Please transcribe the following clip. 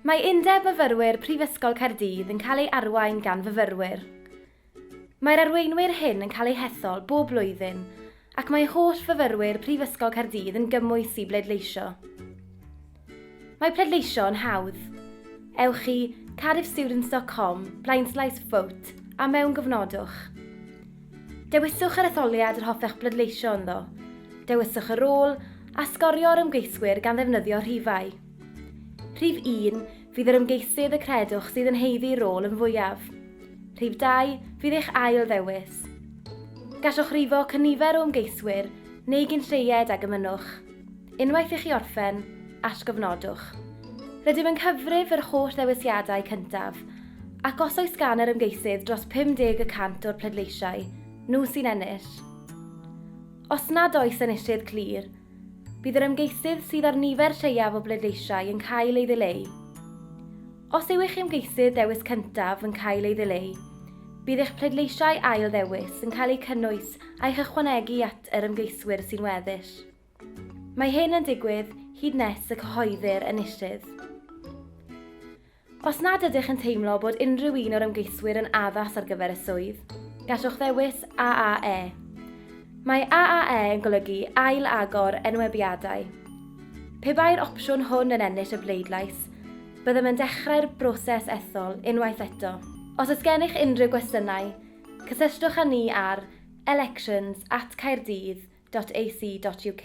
Mae Undeb Myfyrwyr Prifysgol Caerdydd yn cael ei arwain gan fyfyrwyr. Mae'r arweinwyr hyn yn cael eu hethol bob blwyddyn ac mae holl fyfyrwyr Prifysgol Caerdydd yn gymwys i bleidleisio. Mae pleidleisio yn hawdd. Ewch i cardiffstudents.com, blaenslaes vote, a mewngofnodwch. Dewiswch yr etholiad yr hoffech bleidleisio ynddo, dewiswch y rôl, a sgorio'r ymgeiswyr gan ddefnyddio rhifau. Rhif 1, fydd yr ymgeisydd y credwch sydd yn heiddi rôl yn fwyaf. Rhif 2, fydd eich ail ddewis. Gallwch rifo cynifer o ymgeiswyr neu gynlleied ag ymynnwch. Unwaith i chi orffen, atgofnodwch. Rydym yn cyfrif yr holl ddewisiadau cyntaf, ac os oes gan yr ymgeisydd dros 50 y cant o'r pleidleisiau, nhw sy'n ennill. Os nad oes enillydd clir, Bydd yr ymgeisydd sydd â'r nifer lleiaf o bleidleisiau yn cael ei ddileu. Os yw eich ymgeisydd dewis cyntaf yn cael ei ddileu, bydd eich pleidleisiau ail ddewis yn cael eu cynnwys a'u hychwanegu at yr ymgeiswyr sy'n weddill. Mae hyn yn digwydd hyd nes y cyhoeddir enillydd. Os nad ydych yn teimlo bod unrhyw un o'r ymgeiswyr yn addas ar gyfer y swydd, gallwch ddewis AAE. Mae AAE yn golygu Ail Agor Enwebiadau. Pe bai'r opsiwn hwn yn ennill y bleidlais, byddem yn dechrau'r broses ethol unwaith eto. Os oes gennych unrhyw gwestiynau, cysylltwch â ni ar elections at caerdydd.ac.uk.